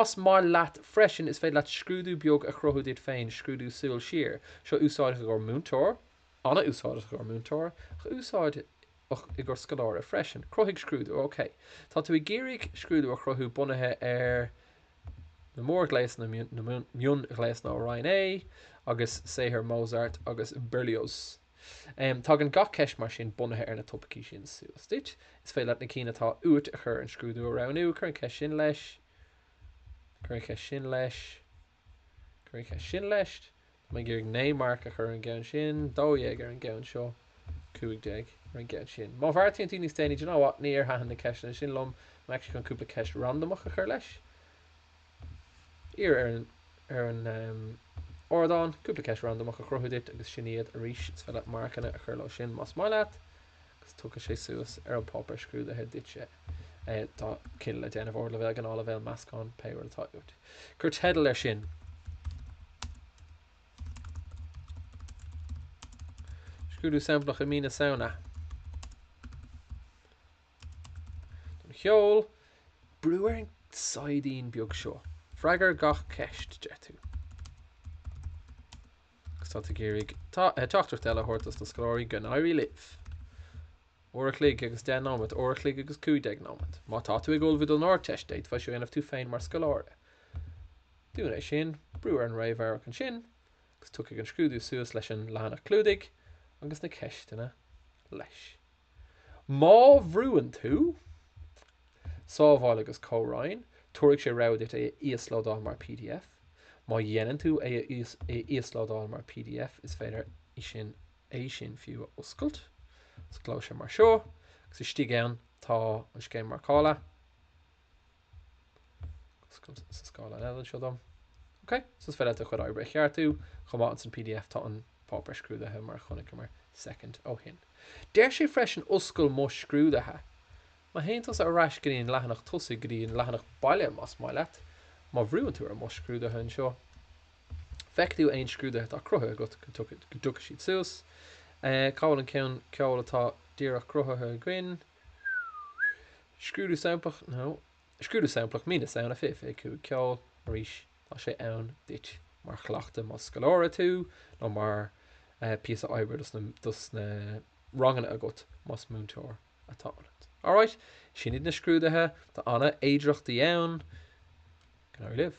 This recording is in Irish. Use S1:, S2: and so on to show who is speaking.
S1: Más maith leat freisin, is féidir leat scrúdú beag a chruthú duit féin, scrúdú súil siar. Seo úsáideach i gcomhair múinteoir, an-úsáideach i gcomhair múinteoir, ach úsáideach i gcomhair scoláire freisin. Cruthaigh scrúdú. OK. Tá tú ag iarraidh scrúdú a chruthú bunaithe ar na mórghléasanna, na mionghléasanna ó Roinn A agus saothar Mozart agus Berlioz. Tagann gach ceist mar sin bunaithe ar na topaicí sin suas duit. Is féidir leat na cinn atá uait a chur ar an scrúdú a roghnú. Cuir an cheist sin leis. Cuir an cheist sin leis. Cuir an cheist sin leis. Tá mé ag iarraidh naoi marc a chur ar an gceann sin, dó dhéag ar an gceann seo, cúig déag ar an gceann sin. Má bheartaíonn tú níos déanaí, do you know what, níor thaitin na ceisteanna sin liom, I'm actually chun cúpla ceist randamach a chur leis. Iarr ar an, ar an em, ardán cúpla ceist randamach a chruthú duit agus sin iad arís, 's féidir leat marcanna a chur leo sin más maith leat. agus tiocfaidh sé suas ar an páipéar scrúdaithe duit. Tá cinneadh le déanamh, Ardleibhéal, Gnáthleibhéal, Meascán, pé rud atá uait. Cuir teideal air sin. Scrúdú samplach mí na Samhna. Don cheol, brú ar an saighdín beag seo. Freagair gach ceist, deir tú. Agus tá tú ag iarraidh teachtaireacht eile a thabhairt dos na scoláirí, go n-éirí libh! Uair a chloig agus deich nóiméad, uair a chloig agus cúig déag nóiméad. Má tá tú ag ullmhú don Ardteist, d'fhéadfá seo a dhéanamh tú féin mar scoláire. Dún é sin, brú ar an réamhamharc ansin, agus tiocfaidh an scrúdú suas leis an leathanach clúdaigh agus na ceisteanna leis. Má bhrúann tú Sábháil agus Comhroinn, tabharfaidh sé rogha duit é a íoslódáil mar pdf. Má dhéanann tú é a íoslódáil mar pdf, is féidir é sin fiú a oscailt. Osclóidh sé mar seo agus istigh ann tá an scéim marcála. sa scáileán eile anseo dom. Ok, so is féidir leat do chuid oibre a cheartú, chomh maith insan pdf tá an páipéar scrúdaithe mar a chonaiceamar soicind ó shin. Deir sé freisin oscail mo scrúdaithe. Má théann tusa ar ais go dtí an leathanach tosaigh, go dtí an leathanach baile más maith leat, má bhrúann tú ar mo scrúdaithe anseo, feicfidh tú aon scrúdaithe atá cruthaithe agat go dtiocfaidh siad suas. Cá bhfuil an ceann ceoil atá díreach cruthaithe againn? Scrúdú samplach now Scrúdú samplach mí na Samhna 25 Ceol arís tá sé ann duit mar chleachtadh más scoláire tú nó mar píosa oibre dos na dos na ranganna agat más múinteoir atá ionat. Alright sin iad na scrúduithe tá ana fhéidearthachtaí ann go n-éirí libh.